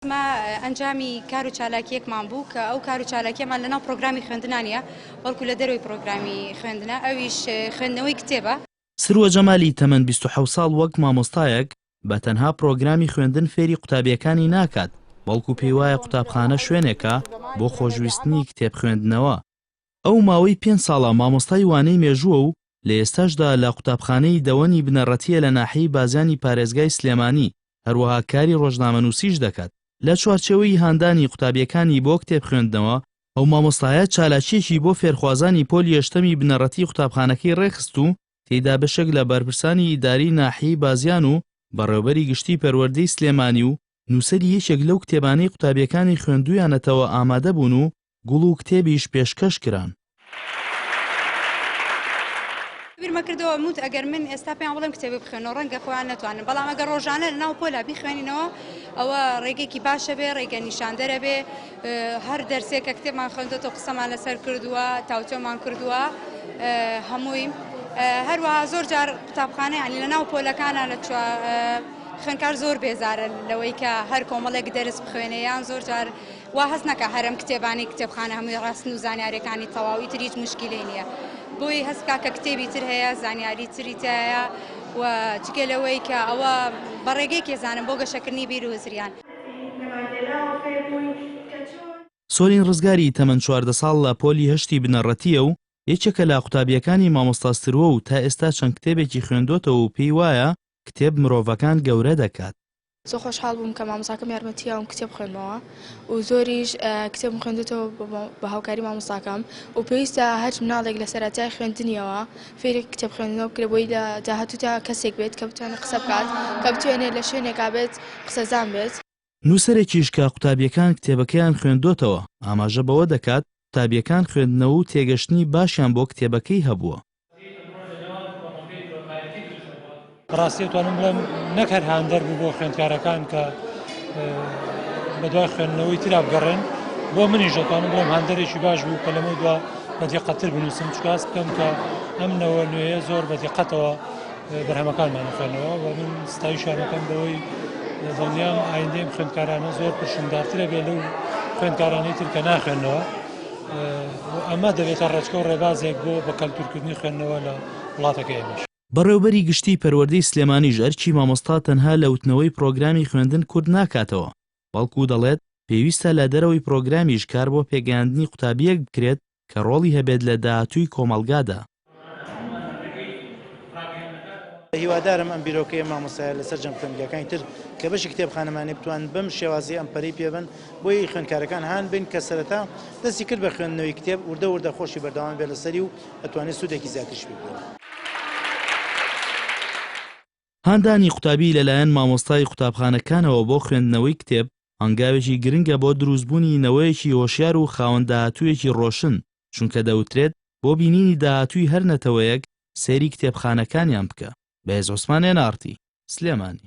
ئەمە ئەنجامی کار و چالاکییەکمان بوو کە ئەو کار و چالاکییەمان لەناو پرۆگرامی خوێندنا نییە، بەڵکو لە دەرەوەی پرۆگرامی خوێندنە، ئەویش خوێندنەوەی کتێبە. سروە جەمالی تەمەن بیست و حەوت ساڵ وەک مامۆستایەک بە تەنها پرۆگرامی خوێندن فێری قوتابییەکانی ناکات، بەڵکو پێیوایە قوتابخانە شوێنێکە بۆ خۆشویستنی کتێب خوێندنەوە. ئەو ماوەی پێنج ساڵە مامۆستای وانەی مێژووە و لە ئێستاشدا لە قوتابخانەی دەوەنی بنەڕەتییە لە ناحیەی بازیانی پارێزگای سلێمانی، هەروەها کاری ڕۆژنامەنووسیش دەکات. لە چوارچێوەی هاندانی قوتابییەکانی بۆ کتێب خوێندنەوە، ئەو مامۆستایە چالاکییەکی بۆ فێرخوازانی پۆلی یەشتەمی بنەڕەتیی قوتابخانەکەی ڕێکخست و تێیدا بەشێک لە بەرپرسانی ئیداریی ناحیەی بازیان و بەڕێوەبەری گشتیی پەروەردەی سلێمانی و نووسەری یەکێک لەو کتێبانەی قوتابییەکانی خوێندوویانەتەوە ئامادە بوون و گوڵ و کتێبیش پێشکەش کران. بیرمە کردەوە موت ئەگەر من ئێستا پێیان بڵێم کتێبێ بخوێنەوە ڕەنگە خۆیان نەتوانن بەڵام ئەگەر ڕۆژانە لە ناو پۆلا بیخوێنینەوە ئەوە ڕێگەێکی باشە بێ ڕێگە نیشاندەرە بێ هەر دەرسێک کە کتێبمان خوێندۆتە قسەمان لەسەر کردووە تاوتۆمان کردووە هەمووی هەروە زۆر جار قوتابخانەیانی لە ناو پۆلەکانە لە چوە خوێنکار زۆر بێزارە لەوەی کە هەر کۆمەڵێک دەرس بخوێنێ یان زۆر جار وا هەست نەکا هەرەم کتێبانەی کتێبخانە هەمووی ڕاستن و زانیاریەکانی تەواو ئیتر هیچ موشکیلەی نیە بۆی هەست بکا کە کتێبی تر هەیە زانیاری تری تایە و جگە لەوەی کە ئەوە بە ڕێگەی کێزانم بۆ گەشەکردنی بیر و هزریان. سۆلین ڕزگاری تەمەن چواردە ساڵ لە پۆلی هەشتی بنەڕەتییە و یەکێکە لە قوتابییەکانی مامۆستا ستروە و تا ئێستا چەند کتێبێکی خوێندۆتەوە و پێی وایە کتێب مرۆڤەکان گەورە دەکات. زۆر خۆشحاڵ بووم کە مامۆستاکەم یارمەتی یاوم کتێب بخوێنمەوە و زۆریش کتێبم خوێندێتەوە بە هاوکاری مامۆستاکەم و پێویستە هەر مناڵێک لە سەرەتای خوێندنیەوە فێری کتێب خوێندنەوە بکرێت بۆی لە داهاتوودا کەسێک بێت کە بتوانێت قسە بکات کە بتوانێت لە شوێنێکا بێت قسەزان بێت. نووسەرێکیش کە قوتابییەکان کتێبەکەیان خوێندۆتەوە، ئاماژە بەوە دەکات، قوتابییەکان خوێندنەوە و تێگەشتنی باشیان بۆ کتێبەکەی هەبووە. بەڕاستی ئەتوانم بڵێم نەک هەر هاندەر بوو بۆ خوێندکارەکان کە بەدوای خوێندنەوەی ترا بگەڕێن، بۆ منیش دەتوانم بڵێم هاندەرێکی باش بوو کە لەمەو دوا بە دیقەتتر بنووسم، چکە هەست بکەم کە ئەم نەوە نوێیە زۆر بە دیقەتەوە بەرهەمەکانمان بخوێنەوە و من ستایشیان ئەکەم بەوەی دڵنیام ئایندەی ئەم خوێندکارانە زۆر پرشنگدارترە بێ لەو خوێندکارانەی تر کە ناخوێنەوە ئەمە دەبێتە ڕێچکە و ڕێبازێک بۆ بە کەلتورکردنی خوێندنەوە لە وڵاتەکە ئێمەش بەڕێوبەری گشتی پەروەردەی سلێمانیش ئەرکی مامۆستا تەنها لە وتنەوەی پرۆگرامی خوێندن کورت ناکاتەوە بەڵکو دەڵێت پێویستە لە دەرەوەی پرۆگرامیش کار بۆ پێگەیاندنی قوتابیەک بکرێت کە ڕۆڵی هەبێت لە داهاتووی کۆمەڵگادا. هیوادارم ئەم بیرۆکەیە مامۆستایە لە سەرجەم خوێندگاکانی تر کە بەشی کتێبخانەمانە بتوانن بەم شێوازەی ئەم پەرەی پێ بن بۆی خوێندکارەکان هان بن کە سەرەتا دەستی کرد بە خوێندنەوەی کتێب وردە وردە خۆشی بەردەوام بێت لەسەری و ئەتوانێت سوودێکی زیاتریش پێ ببینێت. هاندانی قوتابی لەلایەن مامۆستای قوتابخانەکانەوە بۆ خوێندنەوەی کتێب هەنگاوێکی گرنگە بۆ دروستبوونی نەوەیەکی هۆشیار و خاوەن داهاتوویەکی ڕۆشن، چونکە دەوترێت بۆ بینینی داهاتووی هەر نەتەوەیەک سەیری کتێبخانەکانیان بکە. بەهێز عوسمان ئێن ئاڕتی، سلێمانی.